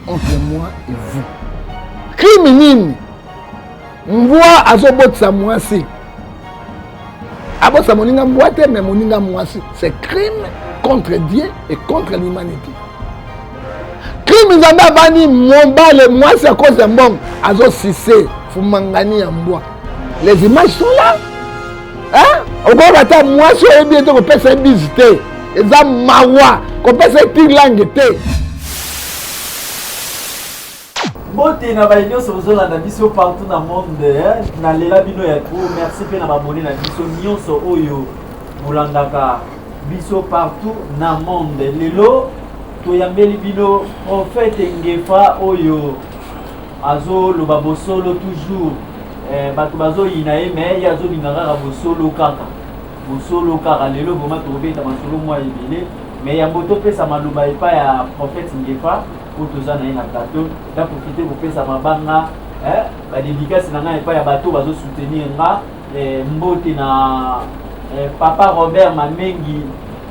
entre moi et vous crime nini mbwa azobotisa mwasi abotisa moninga mbwa te mais moninga mwasi c'est crime contre dieu et contre l'humanité crime nzambe abani mobale mwasi à cause ya mbongo azosise fumangani ya mbwa les images sont là hein? okoyoka ata mwasi oyebi ete kopesa ye bizi te eza mawa kopesa ye tilange te Mbote na baye nyonso bozolanda biso partout na monde nalela bino ya trop merci mpe na babone na biso nyonso oyo bolandaka biso partout na monde lelo toyambeli bino profete ngefa oyo azoloba bosolo toujours eh, bato bazoyina ye me ye azolinga kaka bosolo kaka bosolo kaka lelo vraimen tokobeta masolo mwa ebele Mais ya boto pesa maloba epa ya prophète Ngefa po toza na ye na plateau na profiter kopesa mabanga eh, ba dédicace na nga epa ya bato bazo soutenir nga eh, mbote na eh, papa Robert Mamengi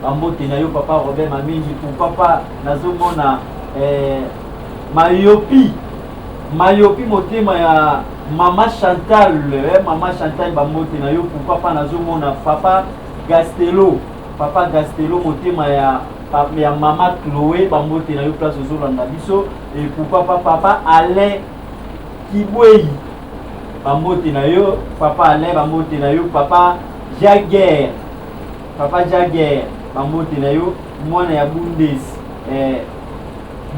ba mbote na yo papa Robert Mamengi pour papa nazomona eh, mayopi mayopi motema ya mama chantal eh, mama chantal bambote na yo pourquoi pas nazomona papa gastelo Papa Gastelo motema ya ya mama Chloe bambote na yo place ozolanda biso et pourquoi pas papa Alain Kibweyi bambote na yo papa Alain bambote na yo papa Jaguer papa Jaguer bambote na yo mwana ya Bundes eh,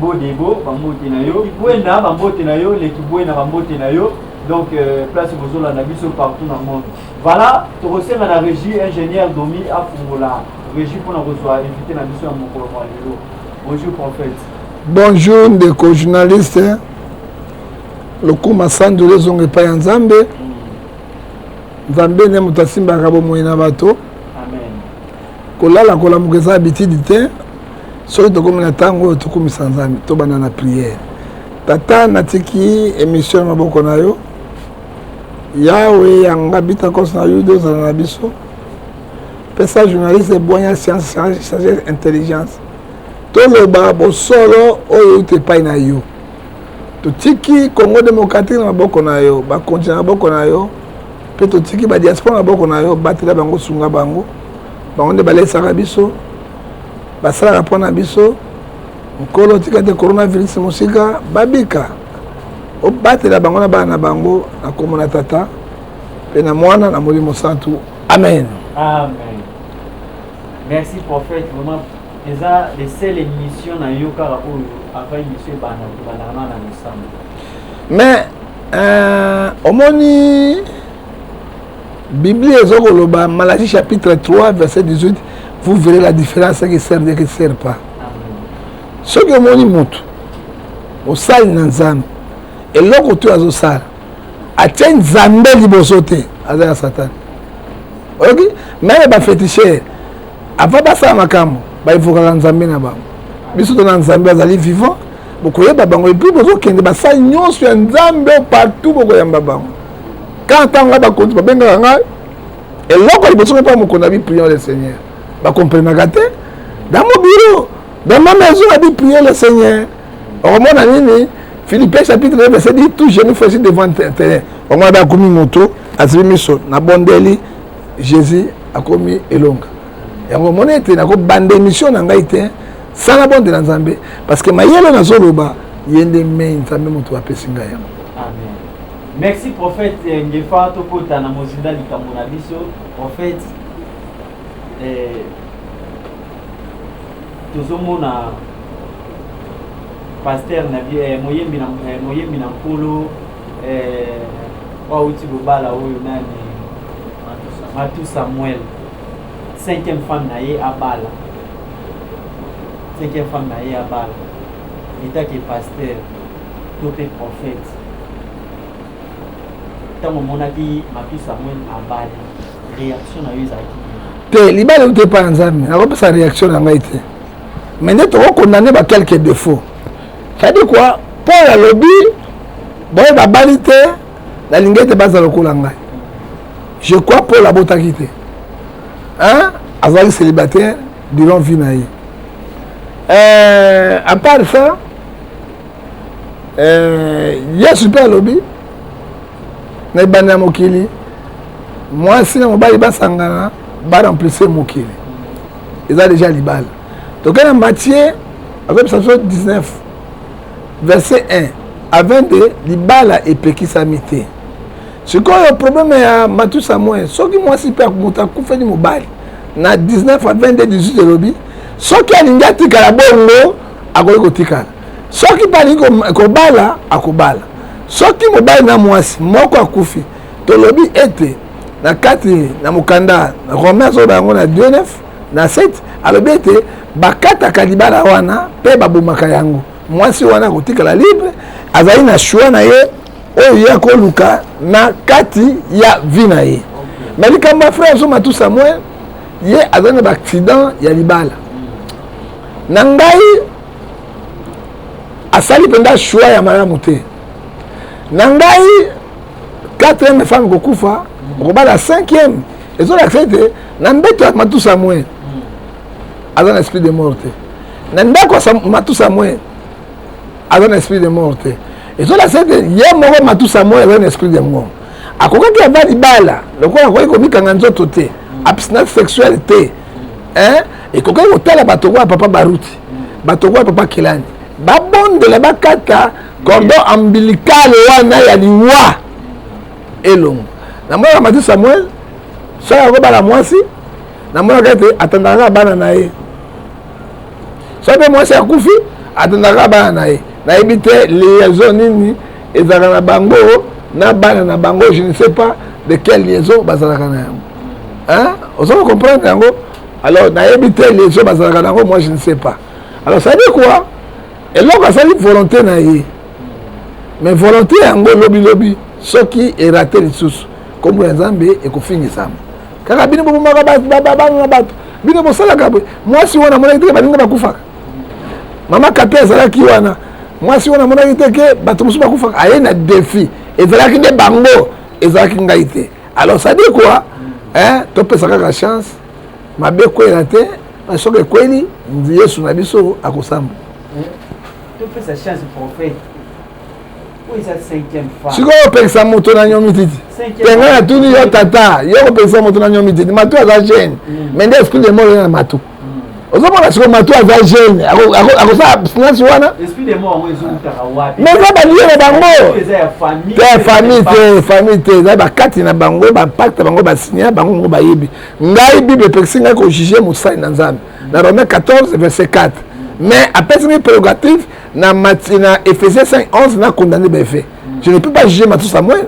Bodebo bambote na yo Kibwena bambote na yo le Kibwena bambote na yo donc euh, place bozolanda biso partout na monde Voilà, tokosenga na regie ingénieur Domi afungola regie mpona kozwa invité na biso ya mokolo mwa lelo. Bonjour prophète. Bonjour ndeko journaliste. Lokuma sandu lezonga epai ya Nzambe. Mm. Nzambe nde moto asimbaka bomoi na bato. Amen. Kolala kolamuka eza habitude te. Soki tokomi na ntango oyo tokumisa Nzambe, tobanda na prière. Tata natiki emission na maboko na yo. Yawe yanga bitakos na yuda ozala na biso pesa journaliste bwanya science sagesse intelligence toloba bosolo oyo euti epai na yo totiki congo démocratique na maboko na yo bakonzi na maboko na yo mpe totiki badiaspora na maboko na yo batela bango sunga bango bango nde balesaka biso basalaka mpo na biso nkolo tika te coronavirus mosika babika obatela bango na bana na bango na nkombo na tata mpe na mwana na molimo santu amen amen merci prophète vraiment eza le seul émission na yo kaka oyo ava émission ebanda kobandaka na na losambo mais euh, omoni biblia ezo koloba malachi chapitre 3 verset 18 vous verrez la différence que sert et que sert pas soki omoni motu mosali na nzambe eloko tu azosala atie nzambe liboso te aza ya satana oyoki meme bafetichere avant basala makambo baevokaka nzambe na bango biso tona nzambe azali vivant bokoyeba bango epuis bozokende basali nyonso ya nzambe partout bokoyamba bango ka ntango ngai bakonzi babengaka ngai eloko liboso ngai mpa mokona biprion le seigneur bakomprenaka te dans mo bureau Dans ma maison, a dit prier le Seigneur. Okomona nini Philippiens chapitre 1 verset 10 tout genou fléchi devant terrain. Okomona ba komi moto azibi miso na bondeli Jésus akomi elonga. Yango omoni ete nakobanda émission na ngai te sala bondela Nzambe parce que mayele nazoloba ye nde mei Nzambe moto apesi ngai yango. Amen. Merci prophète eh, Ngefa tokota na mozinda likambo na biso prophète eh, tozomona paster na bie eh, moyembi na eh, moyembi na nkolo eh, wauti bobala oyo nani matu samuel cinquième femme na ye abala cinquième femme na ye abala etake paster to mpe prophète ntango omonaki matu samuel abali reaction na yo ezalaki te libala euti epai ya nzambe nakopesa reaction na ngai te mais nde tokokondane ba quelque défaut cetadi kua paul alobi baoyo babali te nalingi ete baza lokola ngai je crois paul abotaki te azalaki célibataire durant vie na ye euh, à part ça eh, yesu mpe alobi na ebanda ya mokili mwasi na mobali basangana baremplise mokili eza deja libala toke na matie azoyebisa biso 19 verset 1 a 22 libala epekisami te sikoyo probleme ya matusa moye soki mwasi mpe moto akufeli mobali na 19 a 22 18 elobi soki alingi atikala bongo akoki kotikala soki mpe alingi kobala akobala soki mobali na mwasi moko akufi tolobi ete na kati na mokanda romain azoloba yango na 29 na 7 alobi ete bakataka libala wana mpe babomaka yango mwasi wana akotikala libre azali na choix na ye oyo ye akoluka na kati ya vi na ye me likambo ya frère zoma tout samuel ye azali na baaccident ya libala na ngai asali mpenza choix ya malamu te na ngai 4 femme kokufa okobala 5 ezolakisa ete na mbeto ya matusa mwe aza na esprit de mort te na ndako ya matusa mwe aza na esprit de mort te ezolakisa ete ye moko matusa mwe aza na esprit de mort akokaki ava libala lokola akoki komikanga nzoto te abstinence sexuelle te ekokaki kotala bato oyo papa baruti bato okoya papa kelani babondela bakata cordon ambilikale wana ya liwa elongo namonaka mati samuel soki akobala mwasi namonaka ete atandaka bana na ye soki mpe mwasi akufi atandaka bana na ye nayebi te liaison nini ezalaka na bango na bana na bango je ne sais pas de quelle liaison bazalaka na yango ozo comprendre yango alors nayebi te liaison bazalaka nango moi je ne sais pas alors ça dit quoi eloko asali volonté na ye mais volonté yango lobilobi soki erate lisusu nkombo ya nzambe ekofingisama kaka bino bobomaka bato babanga bato bino bosalaka boye mwasi wana amonaki teke baninga bakufaka mama kape azalaki wana mwasi wana amonaki teke bato mosusu bakufaka aye na defi ezalaki nde bango ezalaki ngai te alors ça dit quoi hein topesa kaka chance mabe ekwela te na soki ekweli yesu na biso akosamba topesa chance prophète sikoyo opekisa moto na nyomi titi tenga natuni yo tata yo kopekisa moto na nyomi titi matu aza gene mais nde esprit de mort eza na matu ozomona siko mato aza jeune akosala abstinence wana mais eza balie na bango te famille te famille te eza bakati na bango bapakte bango basinya bango moko bayebi ngai bible epekisi ngai kojuge mosali na nzambe na romain 14 verset 4 mais apesi ngai prérogative na, na ephésiens 5 11 na condamne baefe je ne peux pas juger matos samuel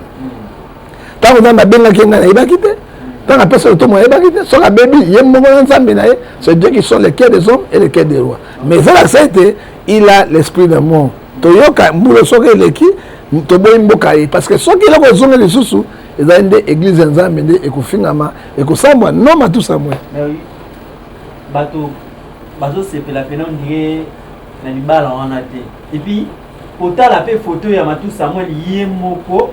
ntango nzambe abengaki ye ngai nayebaki te ntango apesa lotomo ayebaki te soki abebi ye moko na nzambe na ye c'est dieu qui sont les cœur des hommes et les cœur des rois mais ezalakisa ete il a l'esprit de mort toyoka mbulo soki eleki toboyi mboka ye parce que soki eloko ezongi lisusu ezali nde eglize ya nzambe nde ekofingama ekosambwa no matusamwe bato bazosepela mpena ondire na libala wana te epuis kotala mpe foto ya matusamweli ye moko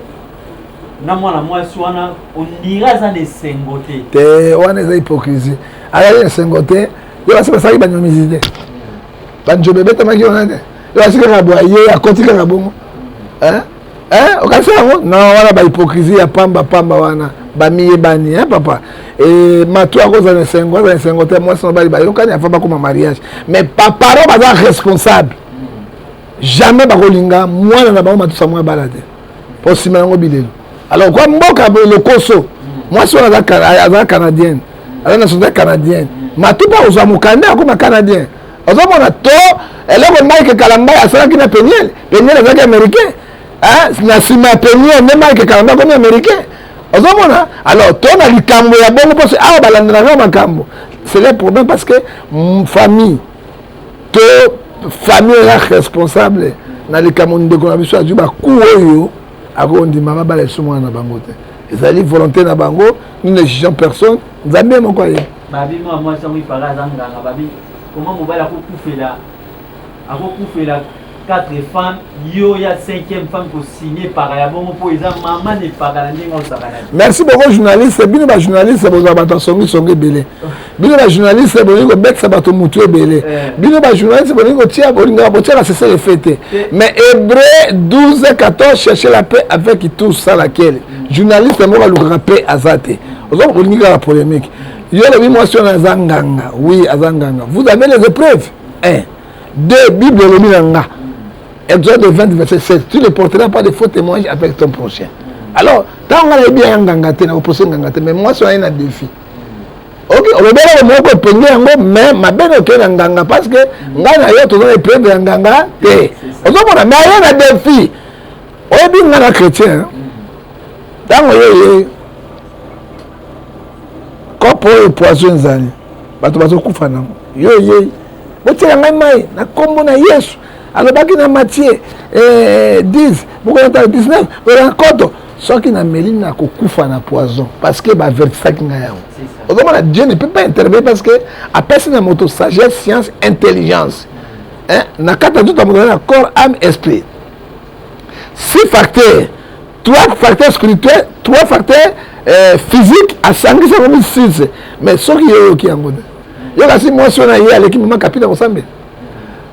na mwana mwasi wana ondira aza na esengo te te wana eza hypocrisie azali na esengo te yo basi basalaki banyomisi te banjobe ebetamaki wana te yo basi kaka bwa ye akoti kaka bongo okanisa yango na wana bahypocrisie ya pamba pamba wana bamiyebani e papa e, matu akozala na esengo azala na esengo te mwasi na mobali bayokani afa bakoma mariage mais baparo baza responsable jamais bakolinga mwana na bango matusa mwa bala te mpo nsima yango bilelo alors kwa mboka lokoso mwasi wana aza canadienne aza nationalité canadienne matupa kozwa mokanda akoma canadien ozomona to eloko mike kalamba asalaki na peniel peniel azalaki américain na nsima ya peniel nde mike kalamba akomi américain ozomona alors to na likambo ya bongo mposo awa balandelaka makambo c'est le problème parce que mm, famille to famille oza responsable na likambo ndeko na biso azwi baku oyo akondima babala lisusu mwana na bango te ezali volonté na bango nous ne jugeons personne nzambe moko aye babi mwa mwasi yango ipaka aza nganga babi koma mobali akokufela akokufela Quatre femmes, yo ya cinquième femme ko signer par ya bongo po eza maman ne paka na ndenge osaka na. Merci beaucoup journaliste, bino ba journaliste boza bato songi songi belé. Bino ba journaliste bolingi ko betsa bato mutu ebele. Eh. Bino ba journaliste bolingi ko tia bolinga ko tia la cesse les fêtes. Eh. Mais Hébreu 12 14 chercher la paix avec tout ça laquelle mm. journaliste moko alukaka paix azate. Ozo bolingi la polémique. Yo lobi mwasi wana aza nganga. Oui, aza nganga. Vous avez les épreuves? Eh. de bible elobi na nga exode 20 verset 16 tu ne porteras pas de faux témoignage avec ton prochain alors ntango nga nayebi yaya nganga te nakopose nganga te mais mwasi wana ye na défi ok olobelaka moko epenge yango mais mabe na okei na nganga parce que ngai na yo toza na epreuve ya nganga te ozomona mais aye na défi oyebi nga na chrétien ntango yo ye kopo oyo poison ezali bato bazokufa nango yo eyei botiela ngai mai na nkombo na yesu alobaki na matie eh, 10 bokolata 19 bokolata koto soki nameli nakokufa na poison parce que baavertisaki ngai yango okomona dieu ne peut pas intervenir parce que apesi na moto sagesse science intelligence na kati ya nzoto ya moto na corps ame esprit si facteur trois facteurs spirituel trois facteurs euh, physique asangisi yango misise mais soki yo oyoki yango te yo kasi mwasi oyo na ye aleki mama kapi na kosambela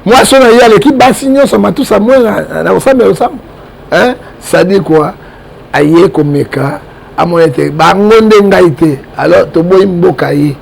mwasi oyo na ye aleki basi nyonso matusa mwe na kosambela losambo sadi kua aye komeka amona ete bango nde ngai te alors toboyi mboka ye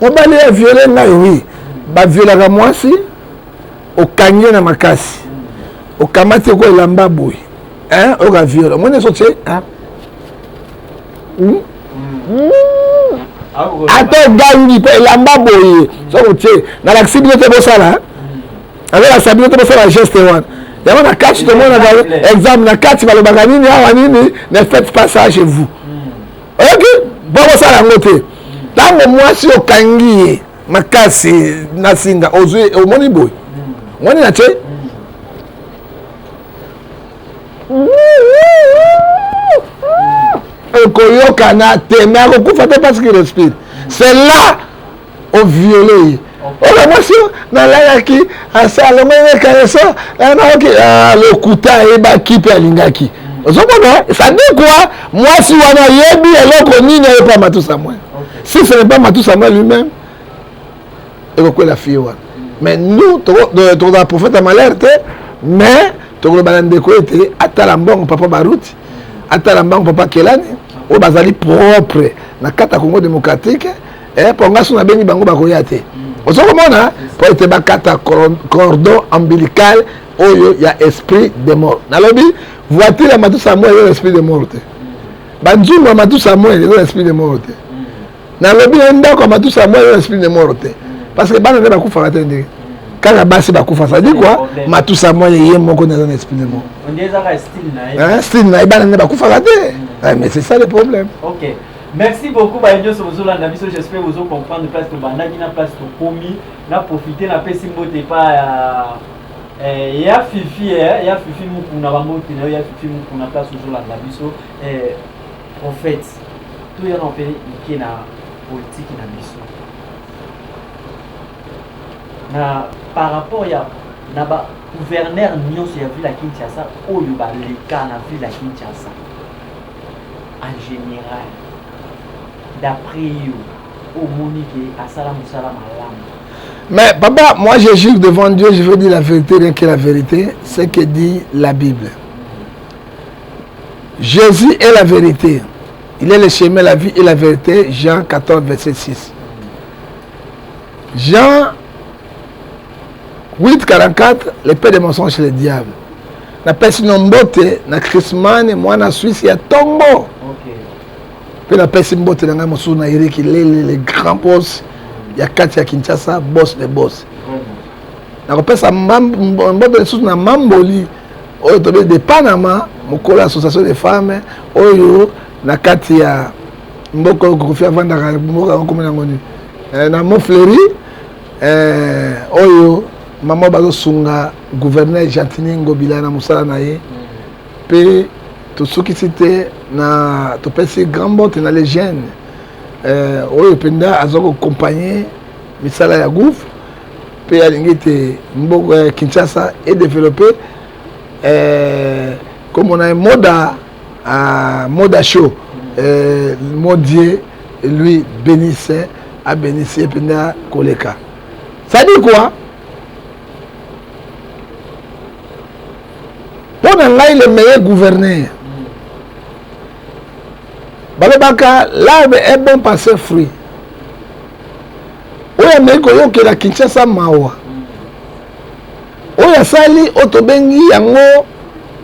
mobali ya viole ngai wi baviolaka mwasi okangi ye na makasi okamati oko elamba boye oyoka viole omoni ezo tye hmm? Hmm. ata ogangi mpe elamba boye soki otye nalakisi bino te bosala azolakisa bino te bosala geste wana yango na kati tomonaka exemple na kati balobaka nini awa nini ne faites pas ça chez vous oyoki bakosala yango te ntango mwasi okangi ye makasi na singa ozwi omoni boye omoni na te ekoyokana te me akokufa te parce qu'il respire c'est là oviole ye oyo mwasi nalalaki asalongaki kaleso nayoki ah, lokuta ayebaki mpe alingaki ozomona sadikwa mwasi wana ayebi eloko nini ayepa matusa mwe si ce n'est pas matusa mwe lui-même ekokwela fille wana mais nous tokozala prophète ya malheur te mais tokoloba na ndeko ete atala mbongo papa baruti atala mbango papa kelani oyo bazali propre na kati ya congo démocratique eh, mpo nga so nabengi bango bakoya te ozo komona mpo ete bakata cordon ombilical oyo ya esprit de mort nalobi voiture ya matusa ya moi eza na esprit de mort te banzungu ya matusa ya moi eza na esprit de mort te nalobi na ndako ya matusa ya moi eza na esprit de mort te parce que bana nde bakufaka te ndenge kaka basi bakufa sadi kua matusa moi ye moko nde aza na esprit de mort style na ye bana nde bakufaka te mais c'est ça le problème okay. Merci beaucoup baye nionso bozolanda biso j'espère bozo comprendre place tobandaki na place tokomi na profite na pesi mbote epa ya eh, ya fifi eh, ya fifi mukuna bambote na yo ya fifi mukuna place ozolanda biso eh, prophète toyana mpe mike na politiki na biso na par rapport ya na ba gouverneur nyonso ya ville ya kinshasa oyo baleka na ville ya kinshasa en general d'après yo omoni ke asala mosala malamu mais papa moi je jure devant dieu je veux dire la vérité rien que la vérité ce que dit la bible jésus est la vérité il est le chemin la vie et la vérité jean 14 verset 6 jean 8 44 le père des mensonges le diable napesi no mbote na chrismane mwana swisse ya tongo mpe napesi mbote na ngai mosusu na eriki lele le grand bos ya kati ya kinshasa bos de bos nakopesa mbote lisusu na mamboli oyo tobe de panama mokolo ya association de femmes oyo na kati ya mboka oyo kofi afandaka mboka yango komona yango nini eh, na mont fleury eh, oyo mama bazosunga gouverneur gentini ngobila na mosala na ye mpe tosukisi te na topesi grand bote na legene eh, oyo mpenza aza kokompagne misala ya gouve mpe alingi ete mboka ya kinshasa edeveloppe eh, komona ye moda Ah, Moda Show, euh, mon Dieu, lui bénisse, a bénisse et puis na koleka. Ça dit quoi? Pour ngai le meilleur gouverneur. Balobaka l'arbre est bon par ses fruits. Oyo ameki koyokela Kinshasa mawa. oyo asali oyo tobengi yango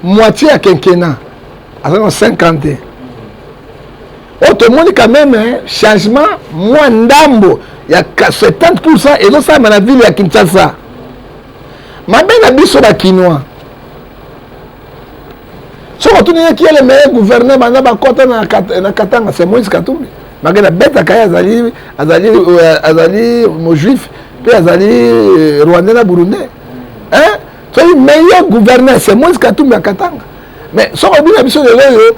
moitie ya kenkena aza na 50 oyo tomoni quand même changement mwa ndambo ya 70 pourcent ezosalama na ville ya kinshasa mabe na biso bakinois soki otuni ye kiele meye gouverneur banda bakɔta na katanga c'est moïse katumbi bake na betaka ye azali azali euh, azali mojuif mpe azali euh, rwandais na burundais soki meye gouverneur c'est moïse katumbi ya katanga mais soki obina biso lelo oyo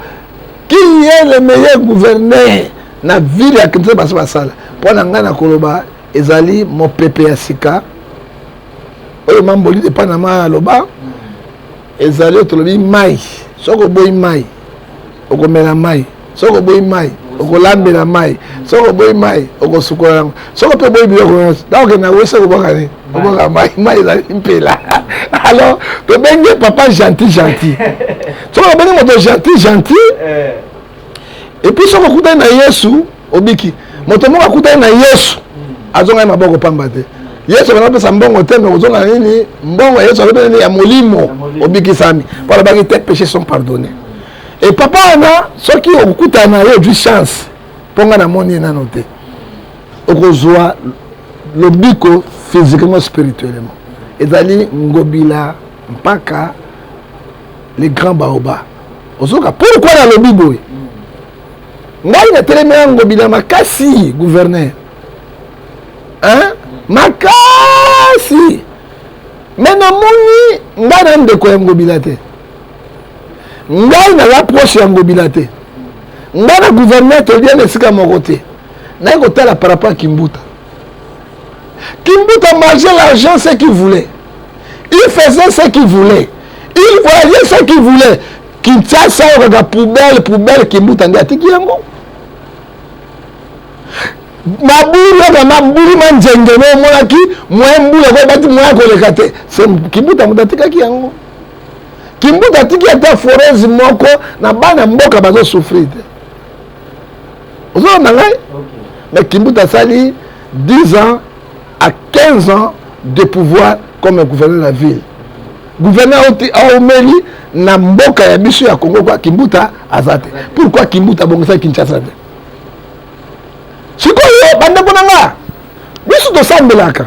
kiye le meilleur gouverneur na ville ya kinshasa basi basala mpo na ngai nakoloba ezali mopepe ya sika oyo mambolide epai na ma aloba ezali oyo tolobi mai soki oboyi mai okomela mai soki oboyi mai okolambela mai soki oboyi mai okosukola yango soki mpe oboyi biloko nyonso ntango okende na wese okobwaka nini obwaka mai mai ezali mpela alors tobengi papa gentil gentil soki obengi moto gentil gentil eh. epuis soki okutani na yesu obiki moto moko akutani na yesu azonga ye maboko pamba te yesu abanda kopesa mbongo te me kozonga nini mbongo ya yesu azobe nini ya molimo obikisami mpo alobaki te péché sont pardonné e papa wana soki okutana na ye ozwi chance mpo ngai namoni ye nano te okozwa lobiko physiquement spirituellement ezali ngobila mpaka le grand baoba ozoka pourkui nalobi boye ngai natelemi ya ngobi na makasi gouverneur hein? makasi me namoni ngai na ndeko ya ngobila te ngai na rapproche ya ngobila te ngai na gouverneur tolia na esika moko te naye kotala par rapport ya kimbuta kimbuta marge l'argent ce qui voulait il faisait ce qu'il voulait il voyait ce qu'il voulait kinshasa oyo kaka poubelle poubelle kimbuta nde atiki yango mabulu oyo mabulu manzenge no omonaki moye mbulu yango ebati moye akoleka te kimbuta moto atikaki yango kimbuta atiki ata forese moko na bana mboka bazosouffrir te ozolanda ngai mais kimbuta asali 10 ans à 15 ans de pouvoir comme gouverneur de la ville gouverneur aomeli na mboka ya biso ya congo kwa kimbuta aza te pourkui kimbuta abongisaki kinshasa te sikoyo bandeko na nga biso tosambelaka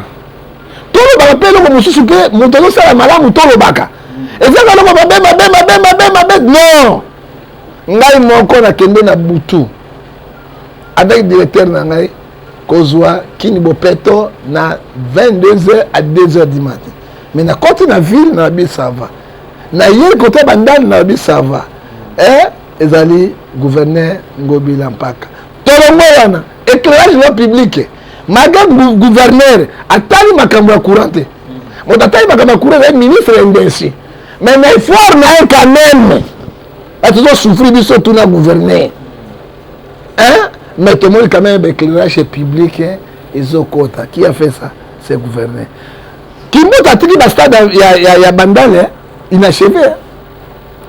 tolobaka mpe eloko mosusu mpe moto azosala malamu tolobaka ezaka eloko mabe mabe mabe mabe mabe non ngai moko nakende na butu avec directeur na ngai kozwa kini bopeto na 22h à 2h du matin mais nakoti na ville na lobi ça va nayei kota bandani na lobi ça va eh, ezali gouverneur ngobila mpaka tolongo wana éclairage loi publique malgré gouverneur atali makambo ya courant te moto atali makambo ya courant ezali ministre ya indesi mais na effort na ye quand même bato tozosouffrir biso tuna gouverneur hein mais tomoni quand même éclairage public ezokota qui a fait ça c'est gouverner kimbuta atiki bastade ya, ya, ya bandale inachevé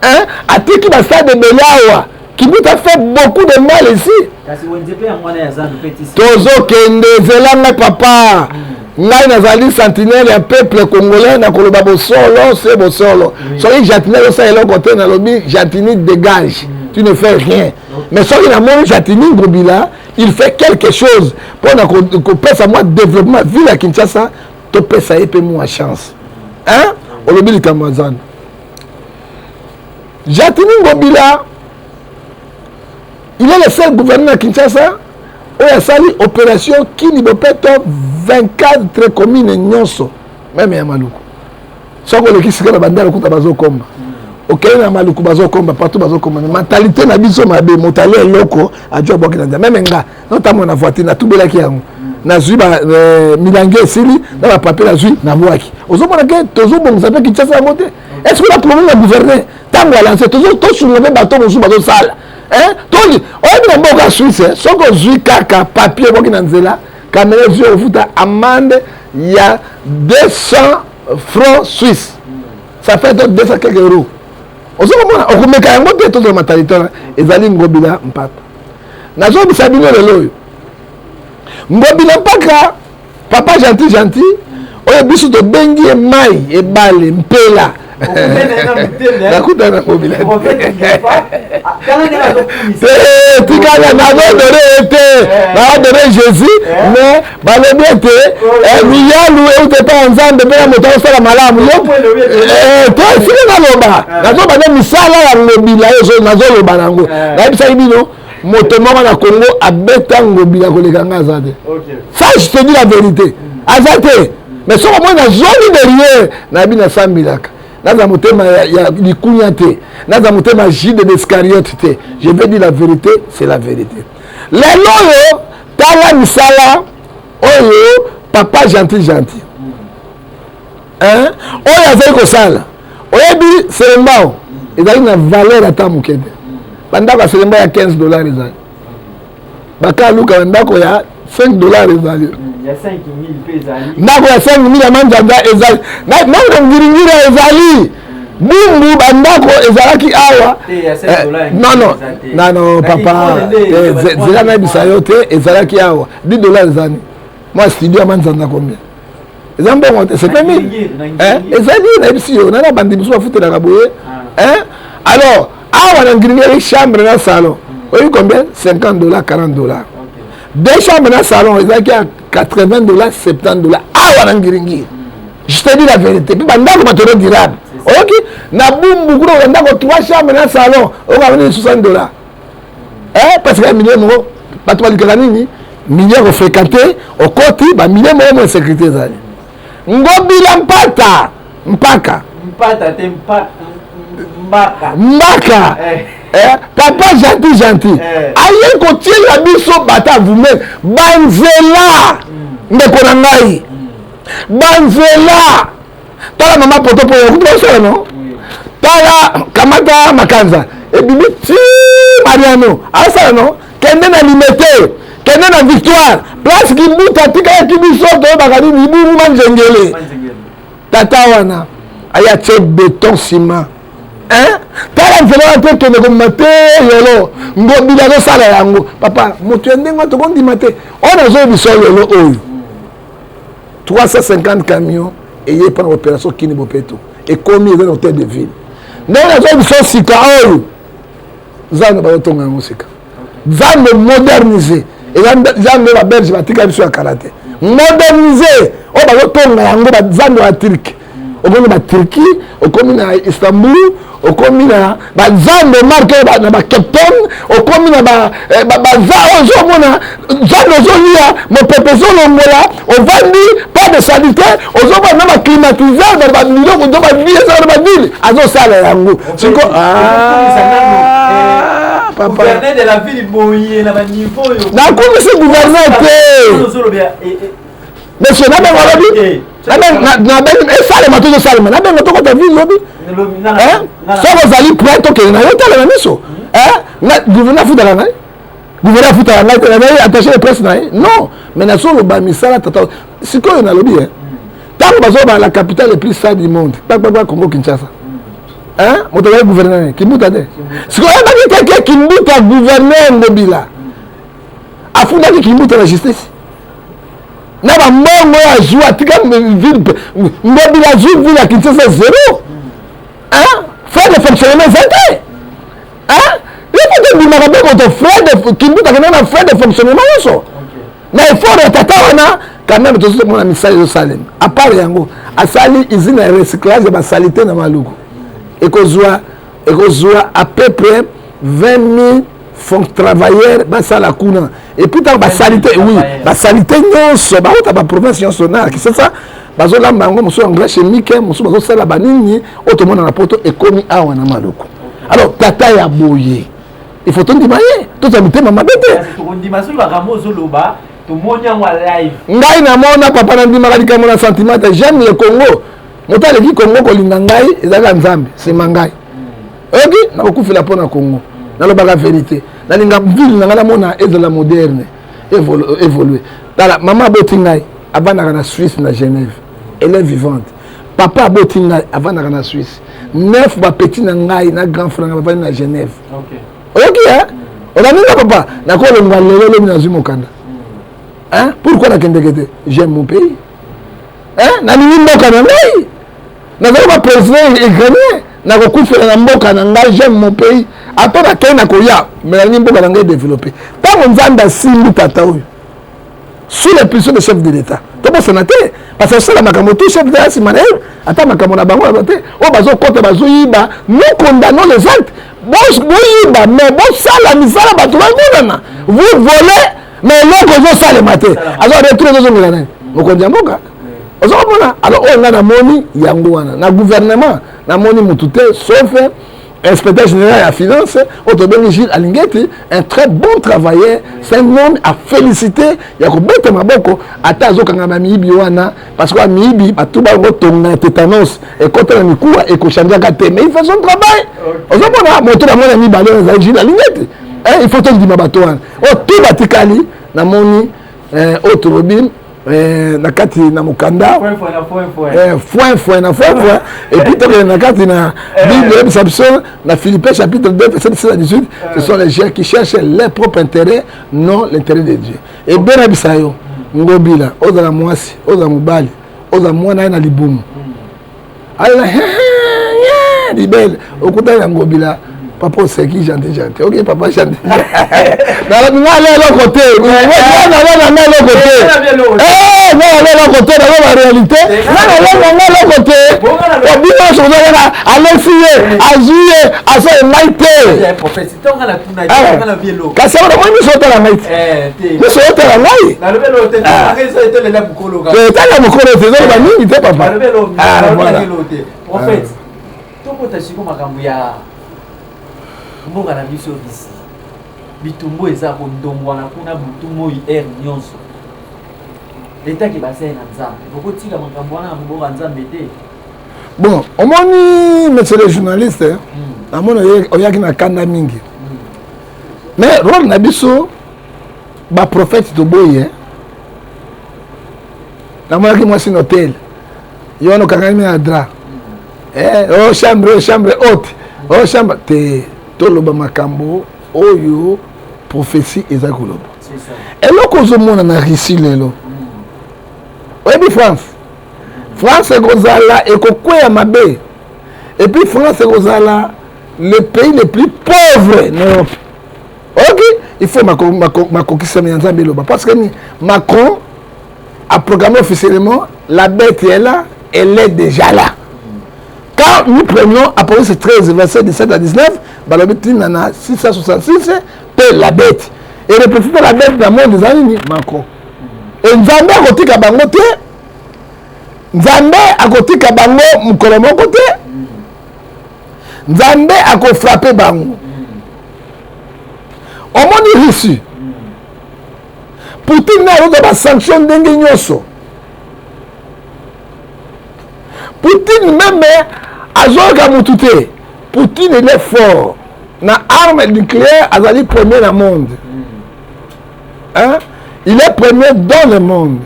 hein atiki bastade ebele awa kimbuta fait beaucoup de mal ici tozokende zelanga papa mm. ngai nazali sentinelle ya peuple congolais na koloba bosolo se bosolo soki jatini azosala eloko te nalobi jatini dégage mm. tu ne fais rien mais soki namoni jatini ngobila il fait quelque chose mpo na kopesa mwa développement ville ya kinshasa topesa ye mpe mwa chance hein olobi likambo ya zando jatini ngobila Il est le seul gouverneur à Kinshasa oyo asali opération kini bopeto 24 commune nyonso meme ya maluku soki oleki sika na bandala okuta bazokomba okei na maluku bazokomba partout bazokomba mentalité na biso mabe moto alia eloko ajua bwaki na nzambe meme nga notambo na voiture natubelaki yango nazwi euh, milangi esili na bapapie nazwi nabwaki ozomona ke tozobongisa mpe kinshasa yango te est ce que na problème ya gouverne ntango alanse tosunga mpe bato mosusu bazosala eh, toki oyebi na mboka swisse eh, soki ozwi kaka papier boki na nzela kamera ezwi ofuta amande ya 200 francs suisse ça fait donc 200 quelque euros ozo komona okomeka yango te tozala matalitona ezali ngobila mpaka nazobisa bino lelo oyo ngobila mpaka papa gentil gentil oyo biso tobengi ye mai ebale mpela nakutana mobila tikala nazodone ye te naodone jésus mais balobi ete miyalu euta epai ya nzambe mpe na moto akosala malamu yo to esili naloba nazobanda misala ya lobila nazoloba nango nayebisaki bino moto moko na congo abeta ngobila koleka nga aza te ça je te dis la vérité aza te mais soki omoi nazongi derrière nayebi nasambelaka naza motema ya likunya te naza motema jide d'escariote te je vais dire la vérité c'est la vérité lelo oyo tala misala oyo papa gentil gentil hein oyo azali kosala oyebi selembao ezali na valeur ata moke te bandako ya selembao ya 15 dollar ezali baka luka bandako ya 5 dollar ezali ndako ya 5000 ya manzanza ezali nanga ngiringira ezali bumbu bandako ezalaki awa eh, nono nano papa eh, zela nayebisa yo te ezalaki awa 10 dollar ezali mwa studio ya manzanza combien eza mbongo te c'est 20 000 ezali nayebisi yo nana bandi mosusu bafutelaka boye ah. alors awa na ngringeri chambre na salon hmm. oyebi combien 50 dollars 40 dollars deux chambres na salon ezalaki ya 80 dollars 70 dollars awa na ngiringiri hmm. je te dis la vérité mpe bandako batono durable oyoki na bumbu kuna oza ndako 3 chambre na salon okamani 60 dollars eh, parce que ya milieu moko bato balukaka nini milieu ya kofréquente okoti bamilieu moko mwa insécurité ezali ngobila mpata mpaka mpata te mpaka mbaka mbaka eh. Eh, papa gentil gentil eh. aye kotiela biso bata vume banzela mm. ndeko na ngai mm. banzela tala mama poto mpo yakuti basala no tala kamata makanza ebimi ti mariano asala no kende na limete kende na victoire place kibuta tikalaki biso toyebaka nini ibungu manzengele tata wana aya tie beton ciment tala nzela wana te kende komema te lelo ngobila azosala yango papa moto ya ndenge wana tokondima te oyo nazoyebisa lelo oyo 350 camion eye epa na opération kini bopeto ekomi eza na hôtel de ville ndenge nazwa biso sika oyo zando bazotonga yango sika zando modernise eza zando babelge batika biso ya kala te modernise oyo bazotonga yango bazando ya turke okomi ba turquie okomi na istanbul okomi na bazando marke na bacapton okomi na eh, baza ozomona zando ozolia mopepe ezolongola ovandi pas de salite ozomona na baclimatiseur na babiloko to bavie eza na bavile azosala yango siko nakumisi gouverneur te monsieur nabenga lobi nabenga esalema tozo salema nabenga tokota ville lobi soki ozali prêt tokende na yo tala na miso gouverneur afutaka ngai gouverneur afutaka ngai tala naye attaché de presse na ye non mais nazoloba misala tata sikoyo nalobi e ntango bazoloba la capitale le plus sale du monde kpagbagba congo kinshasa moto azali gouverneur kimbuta te sikoyo ebaki keke kimbuta gouverneur ngobila afundaki kimbuta na justice na bambongo oyo azwi atika ngobila azwi vile ya kinshasa zero frais de fonctionnement eza te yoko tobimaka mpe moto frais de kimbuta kenda na frais de fonctionnement nyonso na effort ya tata wana quand même tozo komona misala ezosalema apart yango asali usine ya recyclage ya basalite na maluku ekozwa ekozwa à peu près 20 000 fon travailleur basala kuna epuis ntango basalite oui basalite nyonso bauta baprovince nyonso na kisasa bazolamba yango mosusu ya nglais chemique mosusu bazosala banini oyo tomona na poto ekomi awa na maluku alors tata ya boye il faut tondima ye tozwa mitema mabe te ngai namona papa nandimaka likambo na sentiment te j'aime le congo moto aleki congo kolinga ngai ezalaka nzambe nsima ngai oyoki nakokufela mpo na congo nalobaka verité nalinga ville na ngai namona ezala moderne évolue tala mama aboti ngai avandaka na suisse na genève elle est vivante papa aboti ngai avandaka na suisse neuf bapeti na ngai na grand frère ngai bavandi na genève oyoki e olandi nga papa nakolongwa lelo lobi nazwi mokanda pourquoi nakendeke te j'aime mon pays nalingi mboka na ngai nazali ba president ukrainien nakokufela na mboka na ngai j'aime mon pays ata nakei na koya me nalingi mboka na ngai développe ntango nzambe asimbi tata oyo sous la puissance de chef de l'état tobosana te parce que asala makambo tout chef d'état nsima na ye ata makambo na bango te oyo bazokota bazoyiba nous condamnons les actes boyiba mais bosala misala bato bamonana vous volez mais eloko ezosalema te azo retrouve ezozongela nani mokonzi ya mboka oza komona alors oyo ngai namoni yango wana na gouvernement namoni motu te sauf inspecteur général ya finance oyo tobengi gilles alingeti un très bon travailleur c'est un homme à féliciter ya kobeta maboko ata azokanga bamiyibi wana parce que bamiyibi bato bango tonga ya tétanos ekota na mikuwa ekochangeaka te mais il fait son travail ozomona moto na mwana mibale oyo ezali gilles alingeti eh, il faut tondima bato wana oyo oh, to batikali namoni eh, oyo tolobi Eh, na kati na mokanda foinfoin na foinfoin epuis tokende na kati na eh. bible oyebisa biso na philippin chapitre 2 verset 17 à 18 eh. ce sont les gens qui cherchent leur propre intérêt non l'intérêt de dieu ebelabisa yo ngobila ozala mwasi ozala mobali ozala mwana ye na libumu alela libele okuta ya ngobila papa oseki gentil gentil oke papa gentil nalobi nga ale eloko te naloba na nga eloko te nga ale eloko te nazo na réalité nga naloba nga eloko te obino sokozalaka alesi ye azwi ye aso engai te kasi yango namoni miso otala ngai te miso otala ngai totala mokolo te ezoloba mingi te papa tokota siko makambo ya mboka na biso bisi bitumbu eza kondongwana kuna butu moi aire nyonso etaki basai na nzambe bokotika makambo wana na mboka nzambe te bon omoni monsieur le journaliste hmm. namoni oyaki na kanda mingi hmm. mais role na biso baprophète toboyi namonaki mwasi na hotel yo wana okangami na dra hmm. eh, o oh, chambre oh, chambre haute o oh, chambre te toloba makambo oyo prophétie eza koloba eloko ozomona na russie lelo oyebi france france ekozala ekokweya mabe epuis france ekozala le pays le plus pauvre na europe ok il faut makokisami ya nzambe eloba parce que macron aprogramme officiellement la bête est là elle est déjà là quand nous prenons apocalypse 13 verset 17 à 19 balobi ntina na 666 mpe la bête et le prophète la bête na monde eza nini macron e nzambe akotika bango te nzambe akotika bango mokolo moko te nzambe akofrape bango omoni russie poutine na ayoka basanction ndenge nyonso poutine meme azoyoka motu te poutine ele fort na arme nucléaire azali premier na monde hein? il est premier dans le monde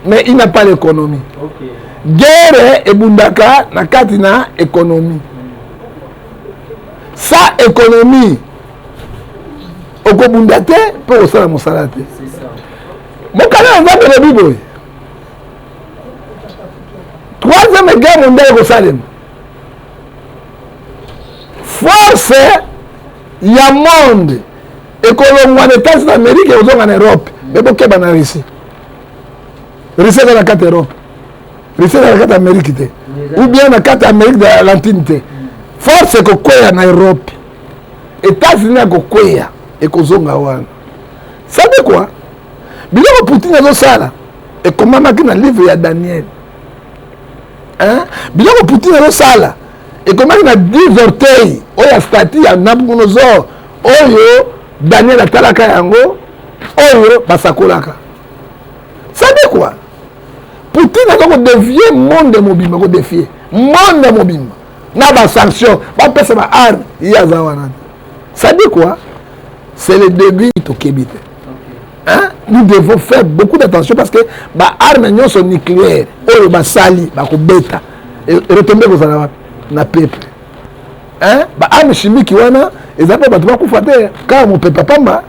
mais il n'a pas l'économie okay. guerre ebundaka na kati na économie sa économie okobunda te mpe okosala mosala te mokanda ya nzambe elobi boye troisième guerre mondiale ekosalema force ya monde ekolongwa na etats na amerika ekozonga na europe me bokeba na russie russie eza na kati europe russie eza na kati amerike te ou bien na kati amerike de l'alentine te force ekokweya na europe etats-unis akokweya ekozonga wana sabe kwa biloko poutine azosala ekomamaki na livre ya daniel biloko poutine azosala ekomaki na 10 orteil oyo ya stati ya nabucodonosor oyo daniel atalaka yango oyo basakolaka sade kua poutine aza kodevie monde mobimba kodefie monde mobimba na basanction bapesa ba arme ye aza wana sade kua c'est le début tokebi te Hein? nous devons faire beaucoup d'attention parce que baarme nyonso nucléaire oyo basali bakobeta retombe ekozala wapi na pepe hein? ba ame chimique wana eza mpe bato bakufa te kaka mopepe pamba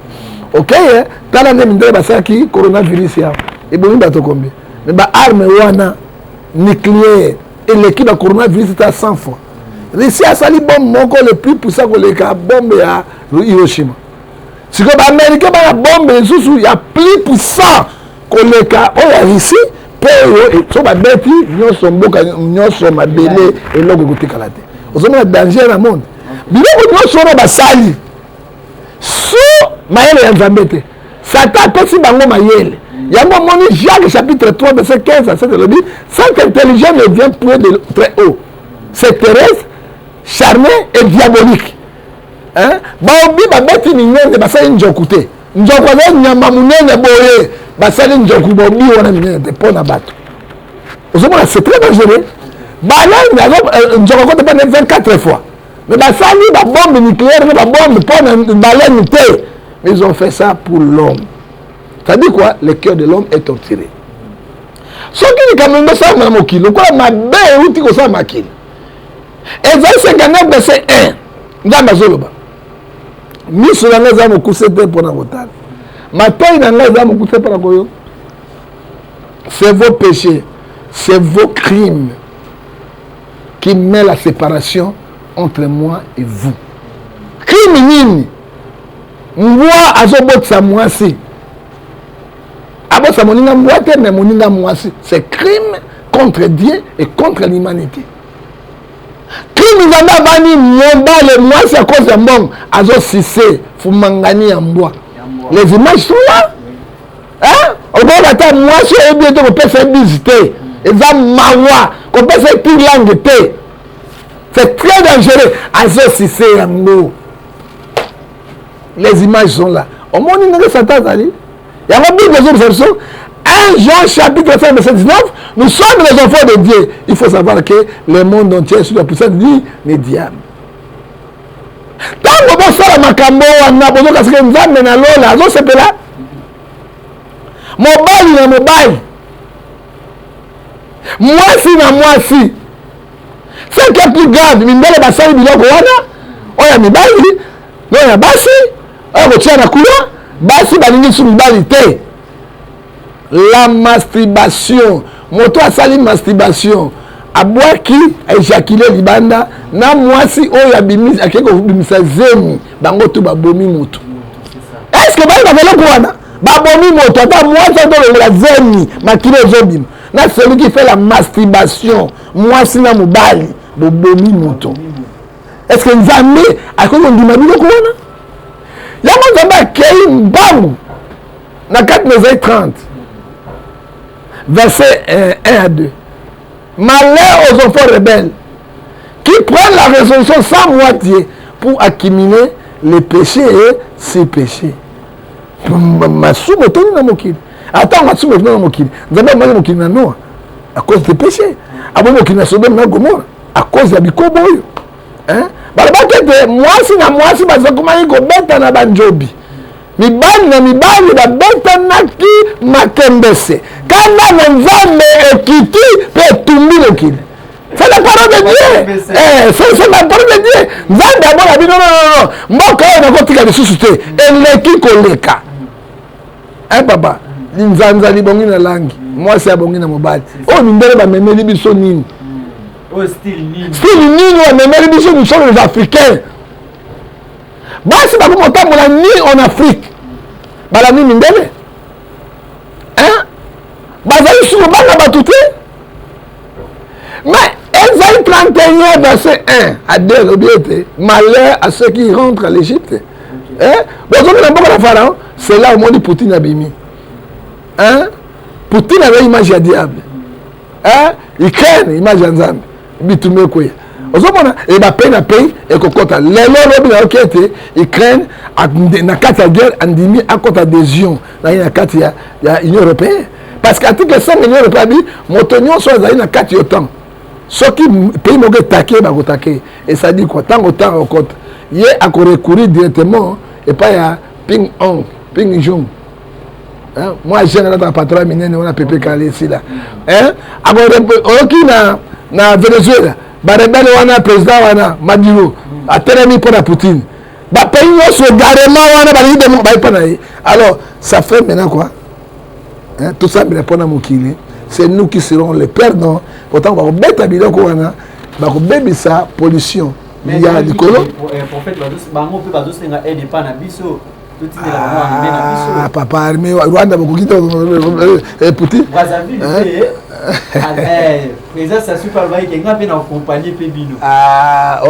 okeye tala nde mindele basalaki coronavirus ya ebomi bato kombi me baarme wana nucléaire eleki ba coronavirus ta 100 fois russie asali bombe moko le plus puissant koleka bombe ya hiroshima sikoyo baaméricain bana bombe lisusu ya plus puissant koleka oyo ya russie mpo oyo so babeti nyonso mboka nyonso mabele eloko ekotikala te ozomona danger na monde biloko nyonso wana basali so mayele ya nzambe te satan apesi bango mayele yango omoni jacques chapitre 3 verset 15 à 7 elobi cette intelligence ne vient point de très haut c'est terrestre charné et diabolique baobi babeti minene basali nzoku te nzoku aza nyama monene boye basali nzoku bobi wana minene te mpo na bato ozomona c'est très dangereux balende euh, nzoku akota mpo na 24 fois mais basali babombe nucléaire na babombe mpo na balene te mais ils ont fait ça pour l'homme c'est-à-dire quoi le cœur de l'homme est torturé soki likambo yango esalama na mokili lokola mabe euti kosala makili ezali 59 verse 1 nzambe azoloba miso na ngai eza mokuse te mpo na kotala matoi na ngai eza mokuse mpo na koyoka c'est vos péchés c'est vos crimes qui met la séparation entre moi et vous crime nini mbwa azobotisa mwasi abotisa moninga mbwa te mais moninga mwasi c'est crime contre dieu et contre l'humanité Crime nzambe abani mobale mwasi à cause ya mbongo azo sise fumangani ya mbwa. Les images sont là. Hein? Okoka ata mwasi oyebi ete kopesa bise te. Eza mawa kopesa ti langue te. C'est très dangereux azo sise yango. Les images sont là. Omoni ndenge Satan azali? yango bible ezobisa biso 1 jean chapitre 5 verset 19 nous sommes les enfants de dieu il faut savoir que le monde entier sous la puissance du ne diable ntango bosala makambo wana bozoka seke nzambe na lola azosepela mobali na mobali mwasi na mwasi ce qui est plus grave mindele basali biloko wana oyo ya mibali Lelo na basi oyo kotia na kula basi balingi lisusu mibali te la masturbation moto asali masturbation abwaki ejakile libanda na mwasi oyo abimisi akei kobimisa zemi bango tu babomi motu eske bali na eloko wana babomi moto ata mwasi atolongola zemi makili ezobima na celui qui fait la masturbation mwasi na mobali bobomi moto est ce que nzambe akoki kondima biloko wana yango nzambe akei mbangu na kati na ezai 30 verset 1 euh, à 2 malheur aux enfants rebelles qui prennent la résolution sans moitié pour accumuler les péchés et ses péchés masumu etoni na mokili ata masumu etoni na mokili nzambe amaki mokili na noa à cause de péché abomi mokili na sodome na gomora à cause ya bikobo oyo balobaki ete mwasi na mwasi bazokomaki kobetana banjobi mibali na mibali babetanaki makembese kanda na nzambe ekiti mpe etumbi mokili c'est la parole de dieu eh, c'est la parole de dieu nzambe abona bino nonono mboka oyo nakotika lisusu te eleki koleka e papa linzanza libongi na langi mwasi abongi na mobali oyo mindele bamemeli biso nini style nini bamemeli biso misolo les africains basi bakomi kotambola ni en afrique balandi mindele bazali sukobanga bato te mais ezali 31 verset 1 à 2 elobi ete malheur à ceux qui rentrent à l'égypte eh? bozoki na mboka na pharaon c'est là omoni poutine abimi hein? poutine aza image ya diable hein? ukraine image ya nzambe bitumba ekweya ozomona ebape na pei ekokɔta lelo lobi nayoki ete ukraine na kati ya guerre andimi akɔta adhésion na ye na kati ya union européenne parce que article 100 million lokola bi moto nyonso azali na kati yo ntango soki pays moko etake ye bakotake ye esadi kua ntango ntango okota ye akorecourir directement epai ya ping ong ping jong mwa jeune alataka patron ya minene wana pepe kala esila oyoki na na venezuela barebele wana président wana maduro atelemi mpo na poutine bapays nyonso egarema wana balingi bayepa na ye alors ça fait maintenant quoi hein, tosambela mpo na mokili c'est nous qui serons les perdants pourtant bakobeta biloko wana bakobebisa pollution ya likolo eh, ah, papa arme rwanda bokoki te eh, putin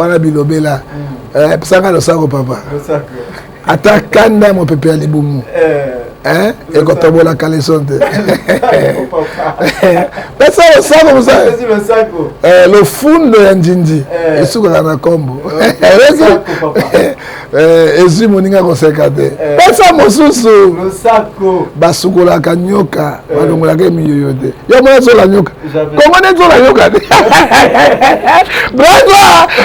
wana bilobela pesanga losako papa ata kanda ya mopepe ya libumu eh, ekotobola kaleson te pesa losako mosala eh, lofundo ya njinji eh. esukaka na nkombo ezwi moninga koseka te pesa mosusu basukolaka nyoka eh. balongolaka emiyoyo te yo mona zola nyoka kongo nde zola nyoka te bravo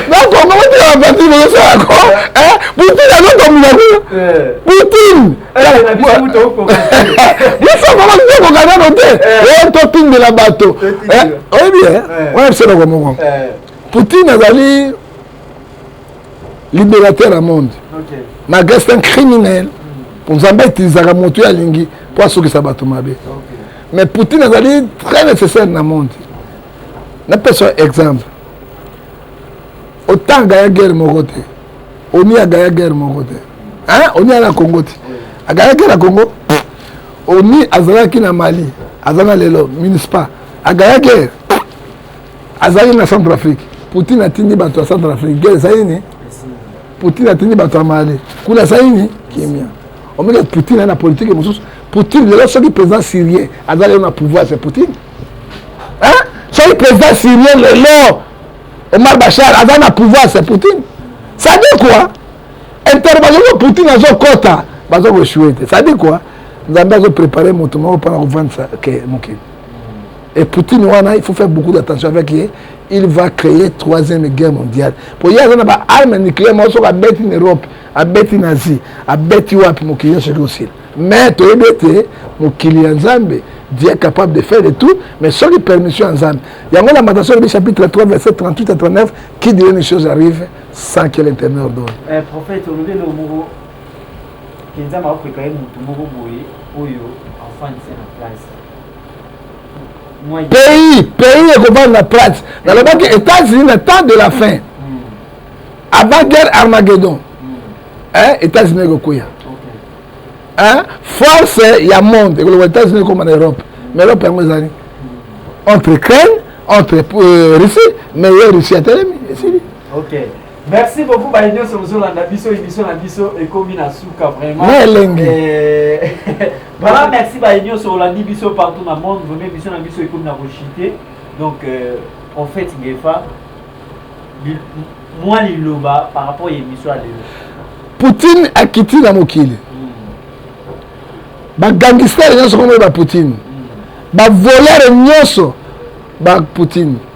na kongo botika baparti bozosala ko poutine azotomina kuna poutine biso mama tokoka nano te eh, totindela bato eh, oyebi wana biso noko moko poutine azali libérateur ya monde malgré c'est un criminel mpo nzambe etilisaka moto oyo alingi mpo asukisa bato mabe mais poutine azali très nécessaire na monde napesa exemple otan agaya guerre moko te oni agaya guerre moko te oni aya na congo te agaya guerre na congo oni azalaki na mali aza na lelo municipal agaya guerre azali na centre afrique poutine atindi bato ya centre afrique guerre ezali ni poutine atindi bato ya mali kuna ezali ni kimia omeke poutine aye na politike mosusu poutine lelo soki président syrien aza lelo na pouvoir c'est poutine soki président syrien lelo omar bachar aza na pouvoir c'est poutine ça dit quoi intervention oyo poutine azokɔta baza koesue te ça dit quoi nzambe azoprépare moto moko mpona kovandisa ke mokili Et Poutine wana il faut faire beaucoup d'attention avec ye il va créer troisième guerre mondiale po ye aza na ba arme nucléaire moko soki abeti na Europe abeti na Asie abeti wapi mokili nyonso eki osila mais toyebi ete mokili ya Nzambe Dieu est capable de faire de tout, mais sans les permissions en Zambie. Il y a la matation du chapitre 3, verset 38 à 39, qui dit une chose arrive sans que l'Éternel ordonne. Eh, prophète, on nous le mot que nous avons préparé mon mot, oyo, enfin, c'est la place. pays pays ekobanga plate nalobaki états-unis na temps de la fin avant guerre armageddon eh, états-unis ekokweya eh, force ya monde ekoloba états-unis ekoma na europe mais europe yango ezali entre ukraine entre euh, russie mais ye russie atelemi esili okay. merci beaucoup baye nyonso bozolanda biso émission na biso ekomi na suka vraiment na elenge eh, Voilà, merci baye nyonso olandi biso partout na monde vreme biso na biso ekomi na kochite donc euh, prophète ngefa mwa liloba par rapport ya émission ya lelo poutine akiti na mokili hmm. bagangistare nyonso komoye bapoutine hmm. bavolere nyonso bapoutine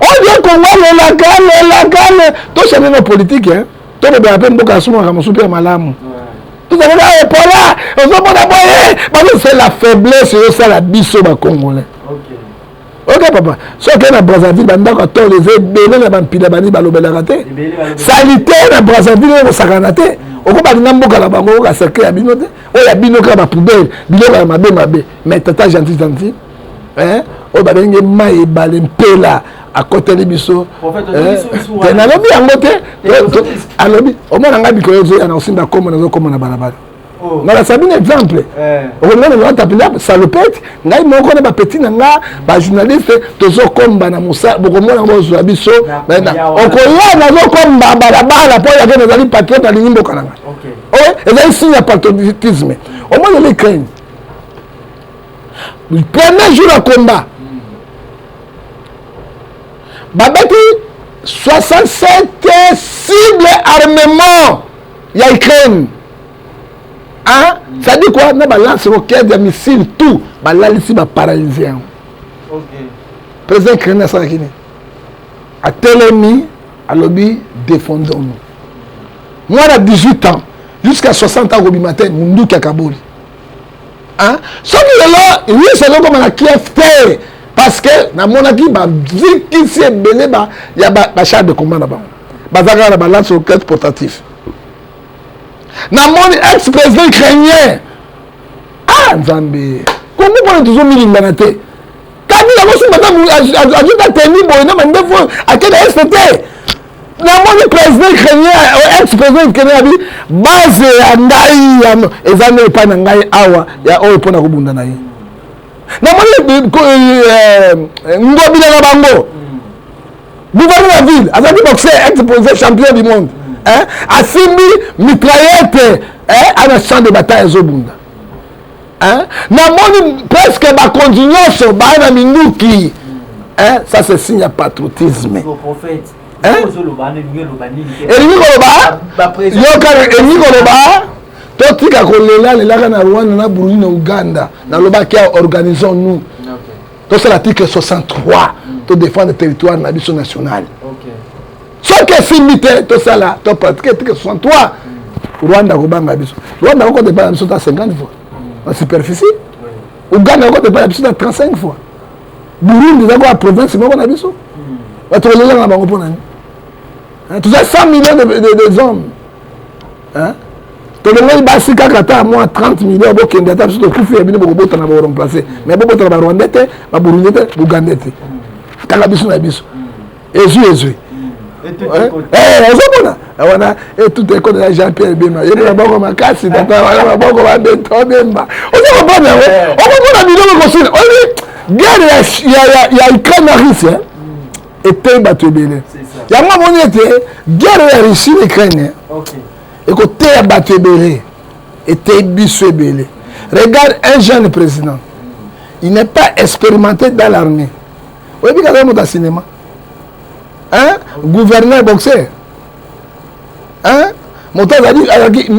olie kongo alelaka alelaka ale tosani na politike eh? tolobela mpe mboka asungaka mosusu mpe ya malamu tozalaka ah, epola ozomona boye bazosala la faiblesse eyosala biso bacongolais oke papa soki na brazzaville bandako ya tolo eza ebele na bampila bani balobelaka te salite na brazzaville ekosakana te mm. okobalinga mboka na bango okoka cercle ya bino te oyo ya bino kaka bapoubele biloko ya mabe mabe mais tata gentil gentil eh, oyo babengi mai ebale mpela akoteli biso eh, te nalobi yango te alobi omona ngai mikolo ezoya na osimba komo nazokoma na balabala oh. nalasa bino exemple eh. okomona naatapela salopete ngai moko na bapeti na nga bajournaliste tozokomba na mosala bokomona yango bozwa biso okoya nazokomba balabala mpo yake nazali patriote alingi mboka na ngai ezali signe ya patriotisme omoni lekaini premier jour ya combat babeti 67 cible armement ya ukraine hein? Mm. ça dit quoi na balance roquette ya missile tout balalisi baparalyse yango okay. président ukraine asalaki nini atelemi alobi défendons nous mwana 18 ans jusqu'à 60 ans akobima te munduki akaboli Hein? soki lelo yesu azokoma na kiev te parce que namonaki bazikisi ebele ya bachar de combat na bango baza kaka na balance au carte portatif namoni ex président ukrainien ah nzambe kongo mpona tozomilingana te kabila mosusu baza azuta teni boye na mandefu akenda este te namoni président ukrainien euh, ex président ukrainien abi base ya ngai eza nde epai na ngai awa ya oyo mpo na kobunda na ye namoni euh, euh, ngobila na bango gouverne ya ville azalaki boxer ex président champion du monde asimbi mitraillette ana champ de bataille ezobunda hein? namoni presque bakonzi nyonso baa na minduki hein? ça c'est signe ya patriotisme elingi koloba yokana elingi koloba totika kolela lelaka na rwanda na burundi na uganda nalobaki ya organisons nous tosala article 63 todefendre territoire na biso nationale soki esimbi te tosala to pratique tike 63 rwanda akobanga biso rwanda akokota epai na biso ta 50 fois na superficie uganda akokota epai na biso ta 35 fois burundi eza koya province moko na biso bato kolelaka na bango mpo na nini toza 100 millions de, de, des hommes tolongoli basi kaka ata mwa 30 million bokende ata biso tokufi ya bino bokobotana boremplace mais bobotana barwandais te baburundi te bougandais te kaka biso na biso ezwi ezwi ozomona wana etuta ekota na jean pierre bemba yende maboko makasi tata wana maboko babeto bemba oza kopona yango okomona biloko kosila oyebi guerre ya ukraine na russie eteyi bato ebele yango amoni ete guerre ya russie na ukraine ekoteya bato ebele eteyi biso ebele regarde un jeune président il n'est pas expérimenté dans l'armée oyebi kaka moto ya cinéma hein gouverneur boxer hein moto azali azalaki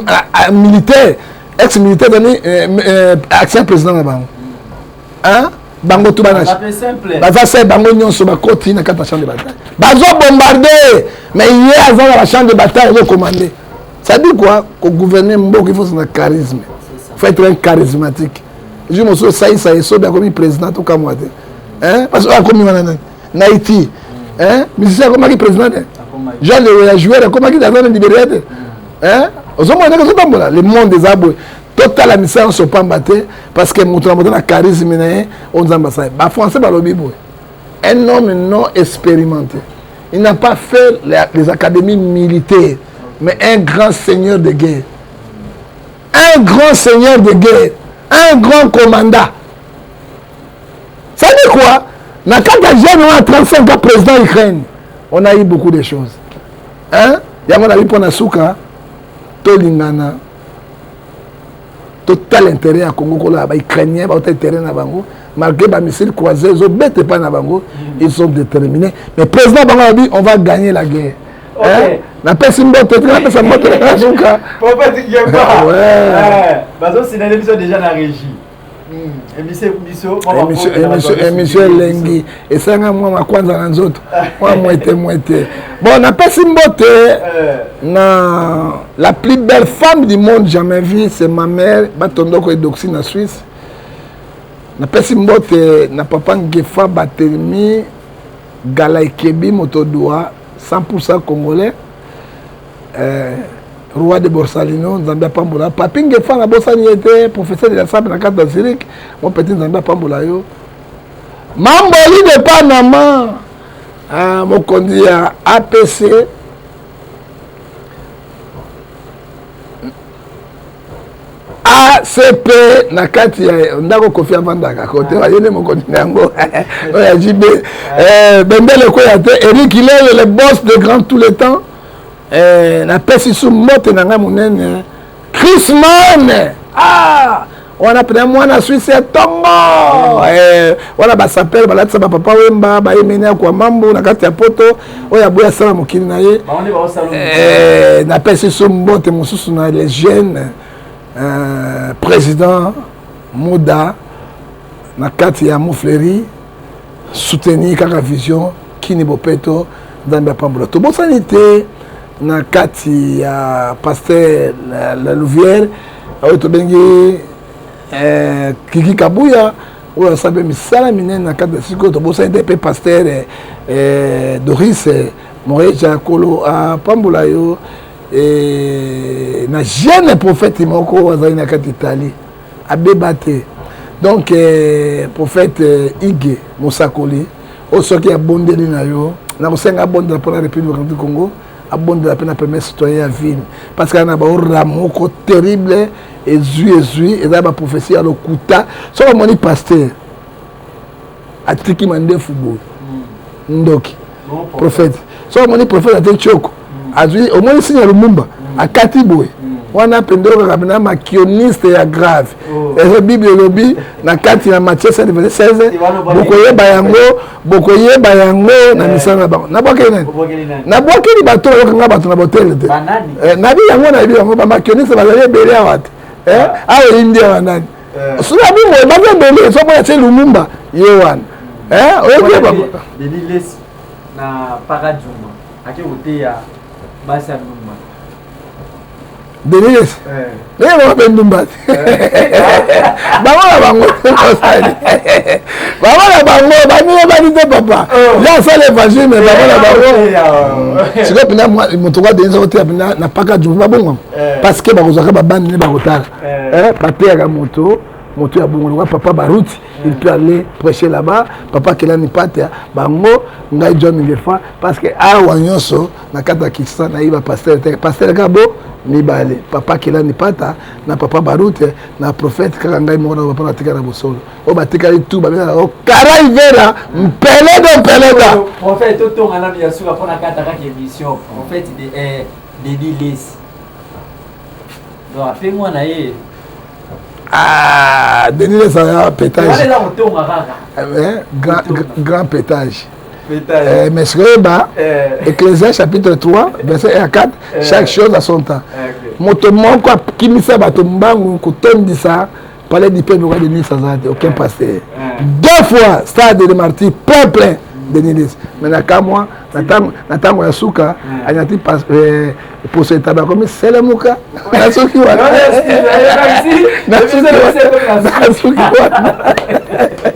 militaire ex militaire azali euh, euh, action président na bango hein bango tu bana baza se bango nyonso bakoti na kati ya champ de bataille bazo bombarde mais ye aza na bachamp de bataille azo commande cest dit quoi kogouverne mboka il faut zana charisme faut être un charismatique ju mosusu osalisa ye sobi akomi président tokamwa te hein parce que akomi wana nani na Haïti hein musicien akomaki président te Jean Lewe ya joueur akomaki dans un libéral te hein ozomona ndenge ozotambola le monde eza boye totala misala nyonso pamba te parce que moto na moto na charisme na ye oyo nzambe asala ba français balobi boye un homme non expérimenté il n'a pas fait les académies militaires mais un grand seigneur de guerre un grand seigneur de guerre un grand commandant cest quoi na kati ya jeune wana 35 ans président ukraine on a eu beaucoup de choses hein yango nabi mpo na suka tolingana totala intérêt ya congo koloba baukrainien bauta intérêt na bango malgré bamissile croisé ezobeta epai na bango mm. ils sont déterminés mais président bango alobi on va gagner la guerre okay. napesi mbote te napesa mbote na suka bazosinale biso déjà na régie emission elengi esanga mwa makwanza na nzoto mwa mwete mwete bon napesi mbote eh. na la plus belle femme du monde jamais vu c'est ma mère batondoko edoxi na suisse napesi mbote na papa ngefa batelemi gala ekebi moto dua 100 congolais eh, roi de borsalino nzambe apambola papi ngefa na bosani ye te professeur de la sable na kati na zurich mo petit nzambe apambola yo mamboli de panama ah, mokonzi ya apc acp na kati ya ndako kofi avandaka kote ah. ye nde mokonzi na yango oyo ya jb ah. eh, bendele ekweya te eric ilele le boss de grand tout le temps eh, napesi su mbote na ngai monene chrisman ah! wana pena mwana swisi ya tongo eh, wana basapele balatisa bapapa wemba bayemeni ya kwa mambu na kati ya poto oyo aboyi asala mokili na ye eh, napesi su mbote mosusu na le jeune euh, président muda na kati ya mofleri soutenir kaka vision kini bopeto nzambe apambola tobosani te na kati ya pasteur la, la louvière oyo tobengi eh, kiki kabuya oyo asala mpe misala minene na kati ya sikoyo tobosani te mpe pasteur eh, eh doris eh, moreja kolo apambola yo eh, na jeune prophète moko azali na kati italie abeba te donc eh, prophète eh, ige mosakoli oyo soki abondeli na yo nakosenga abondela mpo na république du congo abondela mpe na premier citoyen ya ville parce que na baorra moko terrible ezwi ezwi eza baprophesie ya lokuta soki amoni pasteur atiki mandefu boye ndoki prophète soki omoni prophète ate tioko azwi omoni signe ya lumumba akati boye wana mpenza kaka na makioniste ya grave oh. ezo bible elobi na kati ya matie 7 verset 16 bokoyeba yango bokoyeba yango na eh. misala na bango nabwakeli nani nabwakeli bato bakokanga bato na botele te eh, nabi yango nayebi yango bamakioniste bazali ebele awa te eh? awa eyindi awa nani sulabi boye baza ebele fo mona se lumumba ye wana oyokeba na paraduma ake koteya basi ya lumumba denise ndenge bango mpe ndumba te bango na bango osali bango na bango bamino bani te papa ya asala évangile me bango na bango sikoyo mpena moto kwa denise okoteya mpena na paka jumba babongama parce que bakozwaka babandi nde bakotala eh, bateyaka moto moto ya bongo lokola papa baruti il peut aller prêcher là-bas papa kelani patia bango ngai john ngefa parce que awa nyonso na kati ya kinshasa nayebi bapastere te pastere kaka bo mibale papa kelani pata na papa barute na prophète kaka ngai moko na papa natika na bosolo oyo batikali tu babengaka yango karai vera mpeledo mpeleda prophète totonga na biasuka mpo na kataka ke mission prophète de eh, dedi lesi donc ape mwana ye ah, denis lesa ya pétage eh, grand, grand pétage Eh, mais soyeba eh. ecclésia chapitre 3 verset 1 à 4 eh. chaque chose à son temps eh, moto moko akimisa bato mbangu kotondisa palais du peuple oka denis aza te aucun pasteur deux fois stade de martyr plein plein denis lesi mais na kamwa na ntango ya suka anyati eh, poso etaba akomi selemuka nasuki wana nasuki wana